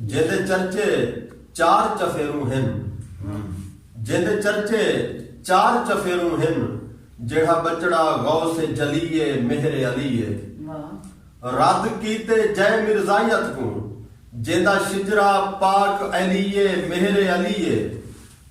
جیندے چرچے چار چفیروں ہن۔ جیندے چرچے چار چفیروں ہن۔ جیڑھا ٻچڑا غوث جلی اے مہر علی اے۔ رد کیتے جئے مرزائیت کوں۔ جیندا شجرہ پاک علی اے مہر علی اے۔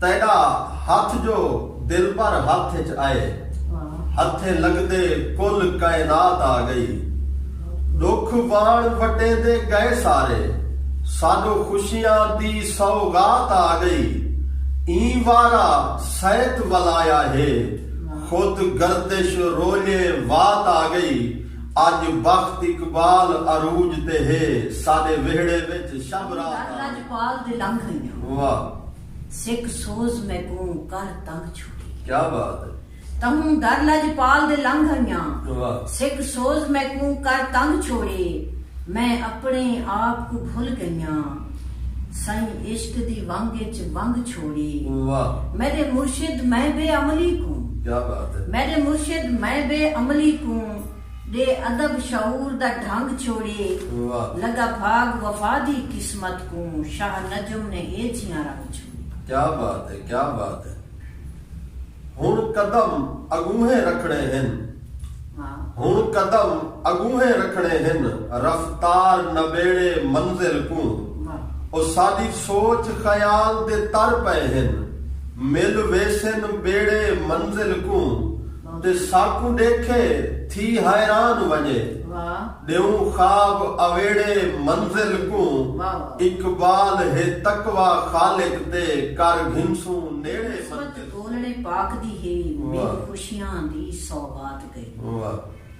تیݙا ہتھ جو دلبر ہتھ اچ آئے ہتھیں لڳدے کل کائنات آ ڳئی ݙکھ واݨ وٹیندے ڳئے سارے ساݙو خوشیاں دی سوغات آ ڳئی ایں وارا سیت ولایا ہے خود گردش رولے وات آ ڳئی اڄ بخت اقبال عروج تے ہے ساݙے وہڑے وچ شب رات آ ڳئی۔ سک سوز میکوں کر تنگ چھوڑی۔ کیا بات ہے۔ تہوں در لجپال دے لنگھ آئیاں۔ واہ۔ سک سوز میکوں کر تنگ چھوڑی۔ میں اپنے آپ کوں بھل گئیاں۔ سئیں عشق دی ونگ اچ ونگ چھوڑی۔ واہ۔ میڈے مرشد میں بے عملی کوں۔ کیا بات ہے۔ میڈے مرشد میں بے عملی کوں۔ ݙے ادب شعور دا ڈھنگ چھوڑیے لڳا بھاڳ وفا دی قسمت کوں شاہ نجم نے اے جھیاں رنگ چھوڑیے۔ کیا بات ہے کیا بات ہے ہن قدم اڳونہے رکھݨے ہن ہن قدم اڳونہے رکھݨے ہن رفتار نبیڑے منزل کوں او ساݙی سوچ خیال دے تر پئے ہن مل ویسن ٻیڑے منزل کوں تے ساکوں ݙیکھے تھی حیران ونڄے ݙیوں خواب اویڑے منزل کوں اقبال ہے تقوی خالق تے کر گھنسوں نیڑے منزل کوں۔ قسمت ڳولݨے پاک دی ہے میک خوشیاں دی سوغات ڳئی۔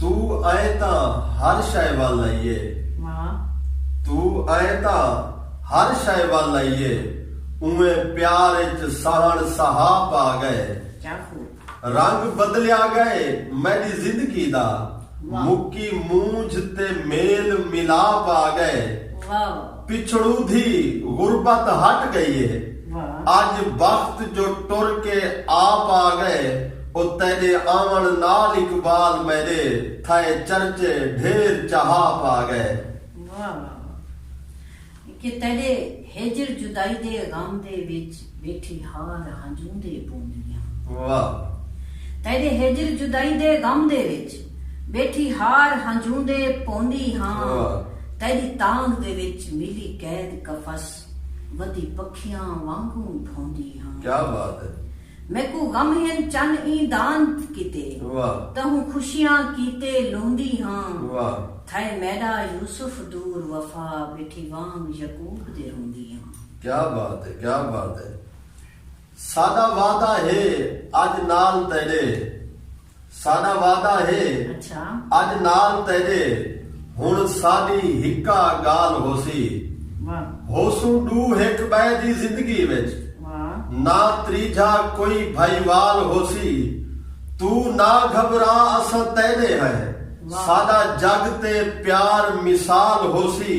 توں ایں تاں ہر شئے ول لئیے۔ توں ایں تاں ہر شئے ول لئیے۔ اونویں پیار اچ سہݨ سہا پا ڳئے۔ رنگ بدلیا ڳئے میݙی زندگی دا۔ مکی مونجھ تے میل ملا پا ڳئے۔ پچھڑودھی غربت ہٹ گئی اے اج بخت جو ٹر کے آپ آ گئے او تیڈے آون نال اقبال میڈے تھئے چرچے ڈھیر چہاپ آ گئے۔ واہ واہ واہ کہ تیڈے ہجر جدائی دے غم دے وچ ٻیٹھی ہار ہنجوں دے پوندیاں۔ واہ تیݙے ہجر جدائی دے غم دے وچ۔ ٻیٹھی ہار ہنجوں دے پوندی ہاں۔ تیݙی تانگھ دے وچ ملی قید قفس۔ ودی پکھیاں وانگوں بھوندی ہاں۔ کیا بات ہے۔ میکوں غم ہن چن ایں دانت کیتے۔ واہ۔ تہوں خوشیاں کیتے لہندی ہاں۔ واہ۔ تھئے میݙا یوسف دور وفا۔ ٻیٹھی وانگ یعقوب دے روندی ہاں۔ کیا بات ہے کیا بات ہے ساڈا وعدہ ہے اج نال تیڈے ساڈا وعدہ ہے اج نال تیڈے ہن ساڈی ہکا گال ہوسی ہوسوں ڈو ہک بئے دی زندگی وچ نہ تریجھا کوئی بھائی وال ہوسی تو نہ گھبرا اساں تیڈے ہیں ساڈا جگ تے پیار مثال ہوسی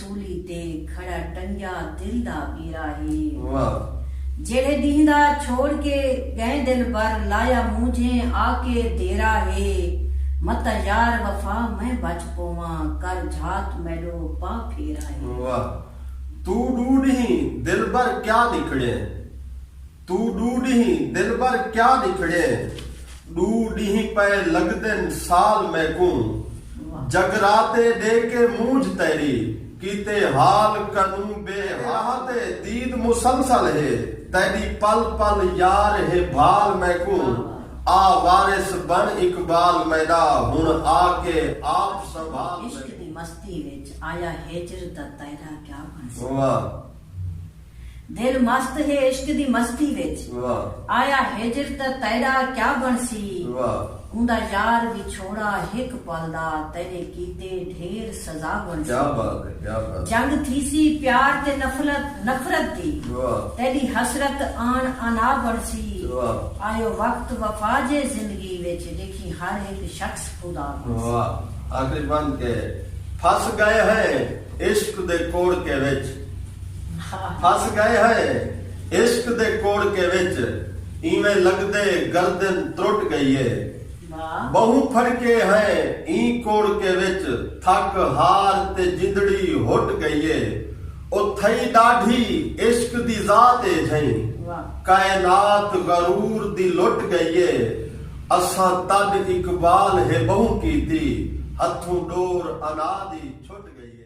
سولی تے کھڑا ٹنگیا دل دا بیرا ہے جیڑھے ڈینہہ دا چھوڑ کے گئیں دلبر لایا مونجھیں آ کے دیرا ہے متاں یار وفا میں بچ پوواں کر جھات میڈو پا پھیرا ہے۔ واہ توں ڈو ڈینہہ دلبر کیا نکڑیں۔ توں ݙو ݙینہہ دلبر کیا نکھڑئیں ݙو ݙینہہ پئے لڳدن سال میکوں جگراتے ݙے کے مونجھ تیݙی کیتے حال کنوں بے حالاتے دید مسلسل ہے تیݙی پل پل یار ہے بھال میکوں آ وارث بݨ اقبال میݙا ہݨ آ کے آپ سنبھال میکوں۔ عشق دی مستی وچ آیا ہجر دا تیرا کیا بݨسی۔ واہ! دل مست ہے عشق دی مستی وچ۔ آیا ہجر تاں تیݙا کیا بݨسی۔ اوندا یار وچھوڑا ہک پل دا تیݙے کیتے ڈھیر سزا بݨسی۔ جنگ تھیسی پیار تے نفرت نفرت دی۔ تیݙی حسرت آن انا بݨسی۔ آیو وقت وفا جے زندگی وچ ݙیکھیں ہر ہک شخص خدا بݨسی۔ آخری بند کہ پھس ڳئے ہیں عشق دے کوڑکے وچ۔ پھس گئے ہئے عشق دے کوڑکے وچ اینویں لگدے گردن ترٹ گئی اے ٻہوں پھڑکے ہئے ایں کوڑکے وچ تھک ہار تے جندڑی ہٹ گئی اے او تھئی ݙاڈھی عشق دی ذات اے جھئیں کائنات غرور دی لٹ گئی اے اساں تݙ اقبال ہے ٻہوں کیتی ہتھوں ݙور انا دی چھٹ گئی اے۔